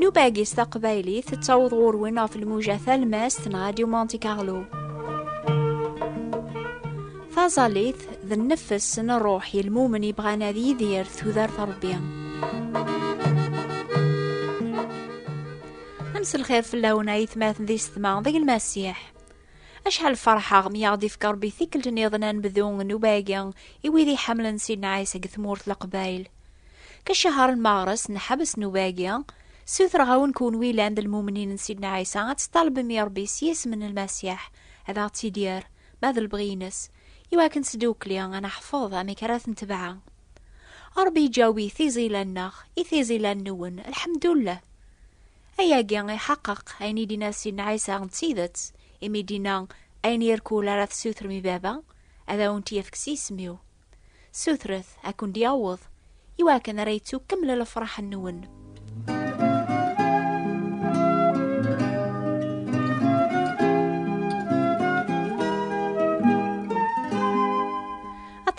Nubagis taqbaylit tettaweḍ ɣur-wen ɣef lmuja talmast n Radio Monte Carlo. Taẓallit d nnefs n ṛṛuḥ yelmumen yebɣan ad yidir tudert Ṛebbi. Amselxir fell-awen ayetmaten di setma deg lmasiḥ. Acḥal ferḥeɣ mi aɣ-d-ifka Ṛebbi tikkelt-nniḍen anebdu n nnuba-agi i wid iḥemmlen Sidna Ɛisa deg tmurt Leqbayel. Kcehar n meɣres n ḥbes nnuba-agi, ssutreɣ-awen kunwi yellan d lmumnin n Sidna Ɛisa ad teṭṭalbem i Rebbi s yisem n Lmasiḥ ad aɣ-tt-id-yerr, ma d lebɣi-ines, iwakken sdukli ad neḥfeḍ amek ara t-netbeɛ. Rebbi yeǧǧawi tiẓilla-nneɣ i tiẓilla-nwen, lḥemdullah! Ayagi iḥeqqeq ayen i d-yenna Sidna Ɛisa d tidet, imi d-yenna, Ayen irkul ara tessutrem i Baba, ad awen-t-yefk s yisem-iw. Sutret ad kent-yaweḍ i wakken ara yettu kemmel lefraḥ-nwen.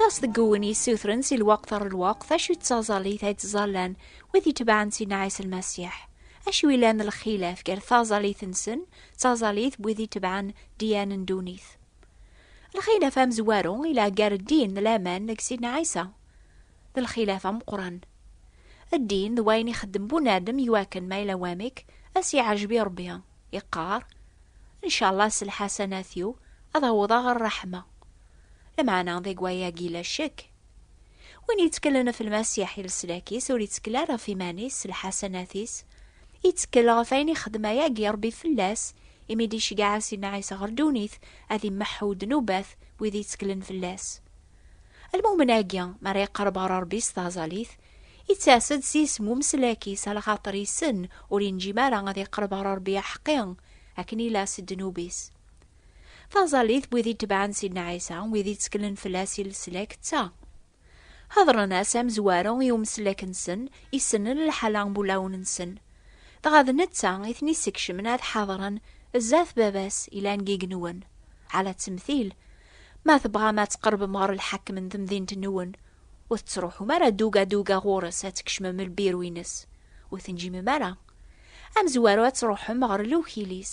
aṭas deg uwen yessutren si lweqt ar lweqt acu yettaẓallit ay ttẓallan wid yetebɛen Sidna Ɛisa Lmasiḥ acu ilan lxilaf gar taẓallit-nsen d taẓallit n wid yetebɛen diyane n ddunit. Lxilaf amezwaru ila gar ddin d laman deg Sidna Ɛisa. D lxilaf ameqqran. Ddin d wayen ixeddem bunadem iwakken ma ila wamek ad s-iɛejeb i Rebbi, iqqar, Ncallah s lḥasanat-iw ad awḍeɣ ɣer ṛṛeḥma. Lmeɛna deg wayagi la ccek. Win yetkellen ɣef Lmasiḥ i leslak-is, ur yettkel ara ɣef iman-is s lḥasanat-is. Yettkel ɣef ayen ixdem ayagi Rebbi fell-as, imi d-iceggeɛ Asidna Ɛisa ɣer ddunit, ad immeḥḥu ddnubat wid yettklen fell-as. Lmumen-agi, mi ara iqerreb ɣer Rebbi s taẓalit, ittas-d s yisem umeslak-is, alaxaṭer issen ur yenǧim ara ad iqerreb ɣer Rebbi aḥeqqi, akken ila s ddnub-is. Taẓallit n wid itebɛen Sidna Ɛisa, wid itteklen fell-as i leslak, d ta. Ḥeḍren-as amezwaru i umeslak-nsen, issnen lḥala n wulawen-nsen. Dɣa d netta i ten-issekcmen ad ḥadren zdat Baba-s ilan n yigenwen. Ɛla ttemtil, ma tebɣam ad tqerbem ɣer lḥakem n temdint-nwen, ur tettruḥum ara duga duga ɣur-s ad tkecmem lbiru-ines, ur tenjimem ara. Amezwaru ad truḥem ɣer lewkil-is.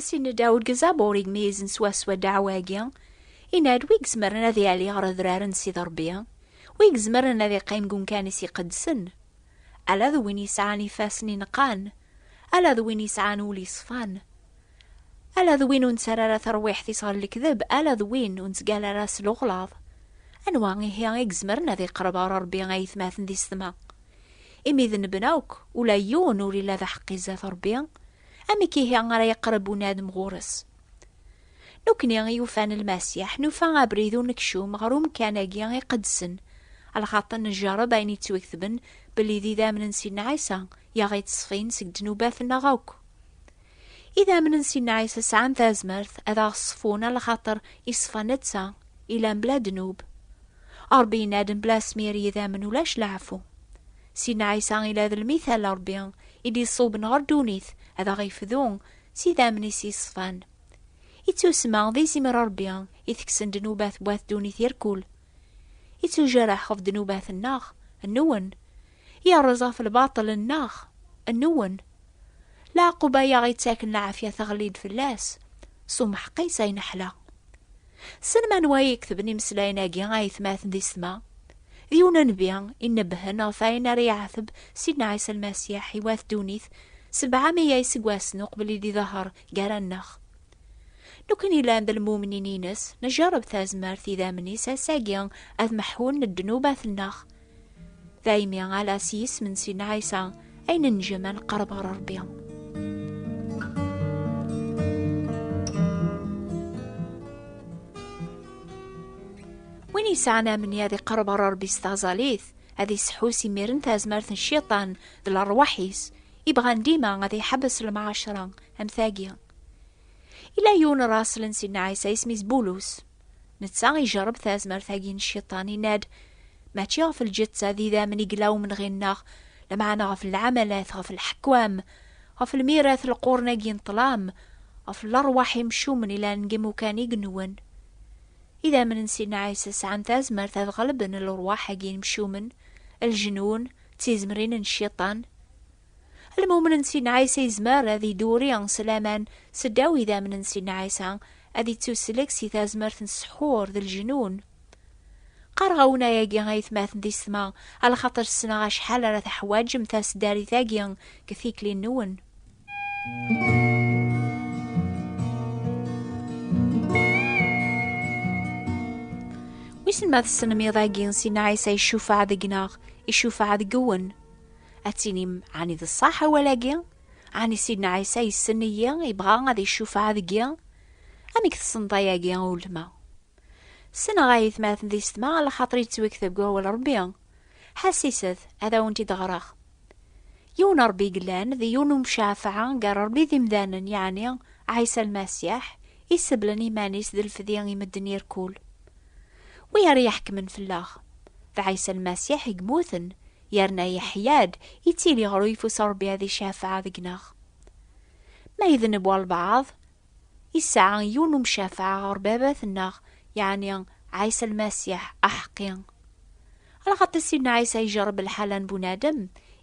Asin Dawud gezab ur igmizen swaswa ddaɛwa-agi, yenna-d wi izemren ad yali ɣer adrar n Sidi Rebbi, wi izemren ad iqqim deg umkan-is iqedsen, ala d win yesɛan ifassen ineqqan, ala d win yesɛan ul yeṣfan, ala d win ur nettarra ara tarwiḥt-is ɣer lekdeb, ala d win ur nettgalla ara s luɣlaḍ. Anwa ihi i izemren ad iqreb ɣer Rebbi ayetmaten di ssetma? Imi d nnebna akk, ula yiwen ur ila d aḥeqqi zdat Ṛebbi, amek ihi ara yeqreb unadem ɣur-s? Nekkni i yufan Lmasiḥ, nufa abrid unekcum ɣer umkan-agi iqedsen, lxaṭer njerreb ayen yettwaketben belli d idammen n Sidna Ɛisa i aɣ-yettṣfin seg ddnubat-nneɣ akk. Idammen n Sidna Ɛisa sɛan tazmert ad aɣ-ṣfun ala xaṭer iṣfa netta, ilan bla ddnub. Ṛebbi yenna-d mebla asmir i yidammen ulac leɛfu. Sidna Ɛisa ila d lmithal n Ṛebbi i d-iṣuben ɣer ddunit ad aɣ-ifdu s idammen-is iṣfan. Ittusma d izimer n Ṛebbi itekksen ddnubat n wat ddunit irkul. Ittujareḥ ɣef ddnubat-nneɣ, nwen, yerreẓ ɣef lbaṭel-nneɣ, nwen. Leɛqub ay aɣ-ittaken lɛafya teɣli-d fell-as, s umḥeqqi-s ay neḥla. Tessnem anwa ay iketben imeslayen-agi a aytmaten d isetma? D yiwen nnbi inebbhen ɣef wayen ara iɛetb Sidna Ɛisa Lmasiḥ i wat ddunit sebɛa meyya iseggasen uqbel i d-iḍehher gar-aneɣ. Nekkni llan d lmumnin-ines, njerreb tazmert idammen-is ass-agi ad meḥḥun ddnubat-nneɣ. Daymi ala s yisem n Sidna Ɛisa ay nenjem ad neqreb ɣer Rebbi. Win yesɛan amni ad iqreb ɣer Rebbi s taẓalit, ad iseḥḥu s imiren tazmert n Cciṭan d lerwaḥ-is, ibɣan dima ad iḥebbes lemɛaccra Am tagi. Ila yiwen raṣel n Sidna Ɛisa isem-is Bulus. Netta ijerreb tazmert-agi n cciṭan, inna-d, Mačči ɣef lǧetta d idammen i yella umenɣi-nneɣ, lameɛna ɣef lɛamalat, ɣef lḥekwam, ɣef lmirat n lqurn-agi n ṭṭlam, ɣef lerwaḥ imcumen ilan deg imukan i inwen. Idammen n Sidna Ɛisa sɛan tazmert ad ɣelben lerwaḥ-agi imcumen, lejnun, d tizemrin n cciṭan. Lmumen n Sidna Ɛisa yezmer ad iduri s laman seddaw idammen n Sidna Ɛisa, ad ittuslek si tazmert n ssḥur d leǧnun. Qqareɣ-awen ayagi a yetmaten di setma, alxaṭer ssneɣ acḥal ara teḥwaǧem taseddarit-agi deg tikli-nwen. Wissen ma tessnem iḍ-agi Sidna Ɛisa icufaɛ deg-neɣ, icufaɛ deg-wen. ad tinim ɛni d ṣṣaḥ awal-agi? Ɛni Sidna Ɛisa yessen-iyi, yebɣa ad icufeɛ deg-i? Amek tessneḍ ayagi, a ulma? Ssneɣ a yetmaten di setma, lxaṭer yettwektab deg wawal Rebbi. Ḥassiset, ad awent-id-ɣreɣ. Yiwen n Rebbi yellan, d yiwen n umcafeɛ gar Rebbi d imdanen, yeɛni Ɛisa Lmasiḥ, iseblen iman-is d lefdi i medden irkul. Wi ara iḥekmen fell-aɣ? D Ɛisa Lmasiḥ i yemmuten, yerna yeḥya-d yettili ɣer uyeffus Ṛebbi ad icafeɛ deg-neɣ. Ma idneb walbeɛḍ, yesɛa yiwen umcafeɛ ɣer Baba-tenneɣ, yeɛni Ɛisa Lmasiḥ aḥeqqi. Lxaṭi Sidna Ɛisa ijerreb lḥala n bunadem,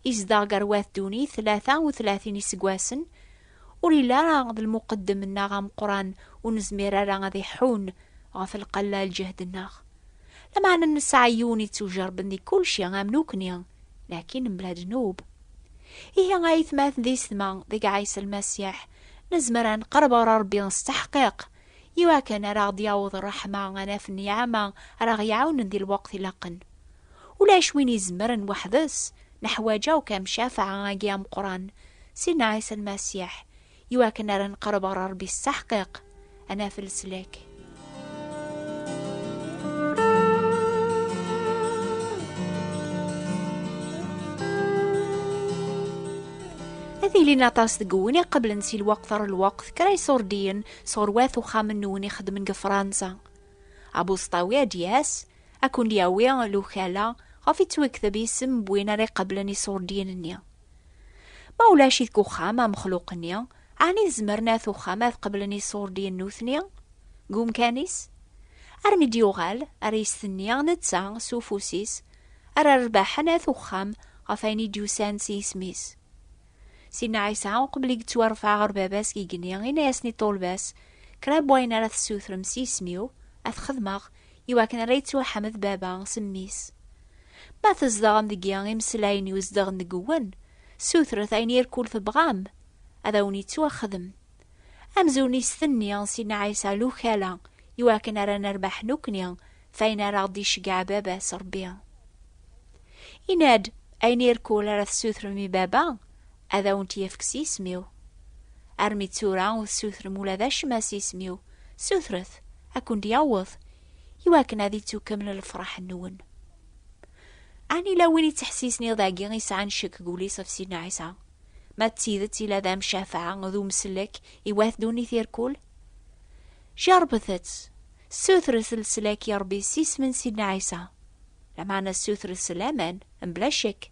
izdeɣ gar wat ddunit tlata u tlatin iseggasen, Ur yelli ara d lmuqeddem-nneɣ ameqqran ur nezmir ara ad iḥun ɣef lqella lǧehd-nneɣ. Lameɛna nesɛa yiwen yettujerben di kulci am nukni, lakin mebla ddnub. Ihi a yetmaten d ysetma, deg Ɛisa Lmasiḥ, nezmer ad neqreb ɣer Rebbi s teḥqiq, iwakken ara ɣ-d-yaweḍ ṛṛeḥma, anaf n niɛama ara ɣ-iɛawnen di lweqt ilaqen. Ulac win izemren weḥd-s, neḥwaǧ akk amcafaɛ-agi ameqqran, Sidna Ɛisa Lmasiḥ, i wakken ara neqreb ɣer Ṛebbi s taḥqiq, ad naf leslak. Ad ilin aṭas deg win iqeblen si lweqt ɣer lweqt kra iṣurdiyen sɣur wat uxxam n win ixeddmen deg Fransa. Abuseṭṭawi ad d-yas, Ad ken-yawi lukala ɣef yettwekteb isem n win ara iqablen iṣurdiyen-nni. Ma ulac deg uxxam amexluq-nni, ɛni zemren at uxxam ad qablen iṣurdiyen nutni deg umkan-is? Armi d-yuɣal, ara yestenni netta s ufus-is, ara rebbaḥen at uxxam ɣef ayen i d-yusan s yisem-is. Sidna Ɛisa, uqbel i yettwarfeɛ ɣer Baba-s igenni, yenna-yasen i ṭṭulba-s, Kra n wayen ara tessutrem s yisem-iw, ad t-xedmeɣ, iwakken ara yettwaḥmed baba s mmi-s. Ma tzedɣem deg yimeslayen yuzedɣen deg-wen, sutret ayen irkul tebɣam, ad awen-yettwaxdem. Amzun istenni si Nna Ɛisa Lukala iwakken ara nerbeḥ nukni f ayen ara ɣ-d-iceggeɛ baba-s Rebbi. Inna-d, Ayen irkul ara tessutrem i baba, Ad awent-yefk s yisem-iw. Armi d tura ur tessutrem ula d acemma s yisem-iw, sutret, ad kent-yaweḍ, i wakken ad ittukkeml lefraḥ-nwen. Ɛni yella win yettḥessisen iḍ agi yesɛan ccek deg wul-is ɣef Sidna Ɛisa? Ma d tidet yella d amcafaɛ d umsellek i wat ddunit irkul? Jerbet-tt, ssutret leslak i Rebbi s yisem n Sidna Ɛisa, lameɛna ssutret s laman, mebla ccek.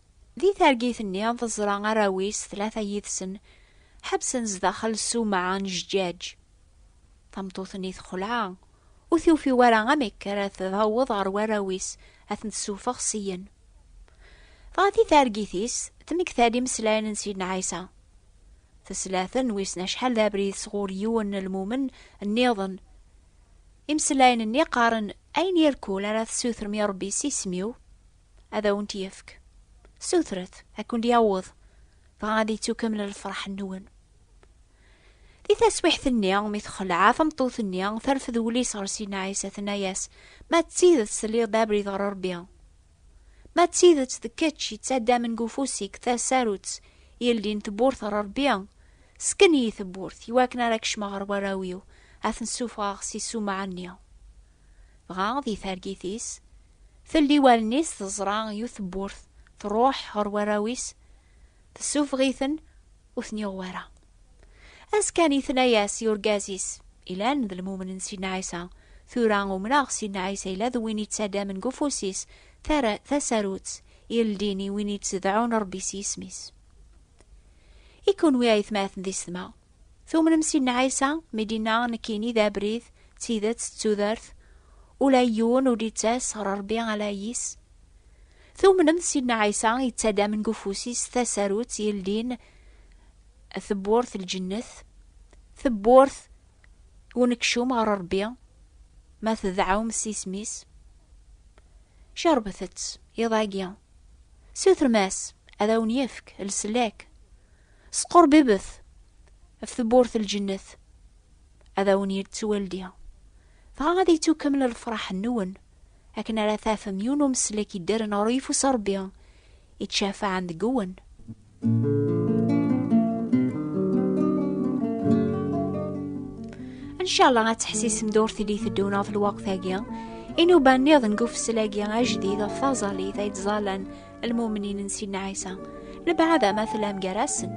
Di targit-nni, teẓra arraw-is tlata yid-sen ḥebsen zdaxel s umɛa n jjaj. Tameṭṭut-nni texleɛ, ur tufi wara amek ara taweḍ ɣer warraw-is ad ten-tessufeɣ syen. Dɣa di targit-is, tmekta-d imeslayen n Sidna Ɛisa. Tesla-ten wissen acḥal d abrid sɣur yiwen n lmumen nniḍen. Imeslayen-nni qqaren, Ayen irkul ara tessutrem i Rebbi s isem-iw? ad awent-yefk. Sutret, ad kent-yaweḍ, dɣa ad yettukamel lferḥ-nwen. Di taswiḥt-nni, mi texleɛ tameṭṭut-nni, terfed wul-is ɣer Sina Ɛisa, tenna-yas, Ma d tidet telliḍ-d abrid ɣer Rebbi, ma d tidet d kečč yettaddamen deg ufus-ik tasarut yeldin tewwurt ɣer Rebbi, sken-iyi tewwurt, iwakken ara kecmeɣ ɣer warraw-iw, ad ten-ssufɣeɣ si ssumaɛ-nni. dɣa di targit-is, telli wallen-is teẓra yiwet tewwurt, truḥ ɣer warraw-is, tessufeɣ-iten, ur ten-yuɣ wara. Askan itna-yas i urgaz-is, ilan d lmumnen Sidna Ɛisa, tura umneɣ Sidna Ɛisa ila d win yettadamen g ufus-is tasarut yeldin i win yettedɛun Rebbi s yisem-is. I kunwi aytmaten di setma, Tumnem Sidna Ɛisa mi d-inna nekkini d abrid, d tidet, d tudert, ula i yiwen ur d-ittas ɣer Rebbi ala yis. Tumnem d Sidna Ɛisa yettadamen deg ufus-is tasarut yeldin tewwurt n lǧennet, tewwurt unekcum ɣer Rebbi, ma tedɛum s isem-is. Cerbet-tt iḍ-agi. Sutrem-as ad awen-yefk leslak. Squrbibbet ɣef tewwurt n lǧennet, ad awen-yettu waldi, dɣa ad yettu kamel lefraḥ-nwen, akken ara tafem yiwen umeslek yeddren ɣer uyeffus n Rebbi, yettcafaɛen deg-wen. Ncalla ad teḥsisem d urti di teddun ɣef lweqt-agi, inuba-nniḍen deg ufessel-agi ajdid ɣef taẓallit ay ttẓallan lmumnin n Sidna Ɛisa, lebɛada ma tellam gar-asen.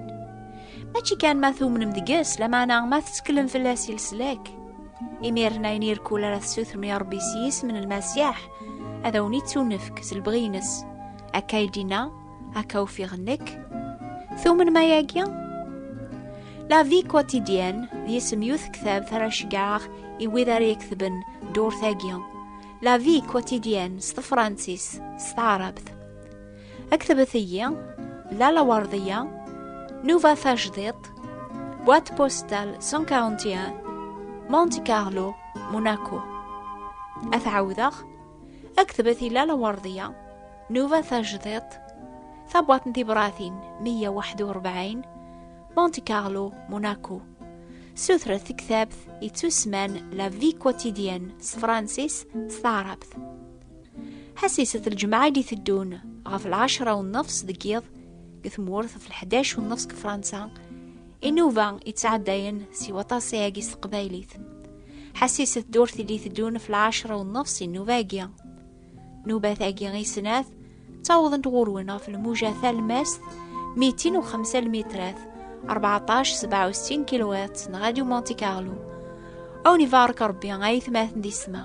Mačči kan ma tumnem deg-s, lameɛna ma tetteklem fell-as i leslak. Imiren ayen irkul ara tessutrem i Ṛebbi s yisem n Lmasiḥ, ad awen-ittunefk s lebɣi-ines. Akka i d-inna, akka ufiɣ nekk. Tumnem ayagi? La Vie Quotidienne d yisem yut ktab ara ceggɛeɣ i wid ara iketben ddurt-agi. La vie quotidienne s tefransist s taɛrabt. Aktebet-iyi Lala Werdiya, Nuva Tajdiṭ, boîte postale 141, Monte Carlo, Monaco. Ad t-ɛawdeɣ, aktebet i Lala Werdiya, Nuva Tajdiṭ, tabwaṭ n tibratin 141, Monte Carlo, Monaco. Sutret tektabt yettusman La Vie Quotidienne s Francis s taɛrabt. Ḥasiset lǧemɛa i teddun ɣef lɛecra u nnefs deg yiḍ deg tmurt ɣef lḥdac u nnefs deg Fransa inuba yettɛeddayen si waṭas ayagi s teqbaylit. Ḥasiset ddurt i d-iteddun ɣef lɛecra u nnefs inuba-agi. Nubat-agi i snat, ttawḍent ɣur-wen ɣef lmuja talmast, mitin u xemsa lmitrat, 1467 kilowat, n Radio Monte Carlo. Awen ibarek Rebbi ay tmaten di sma.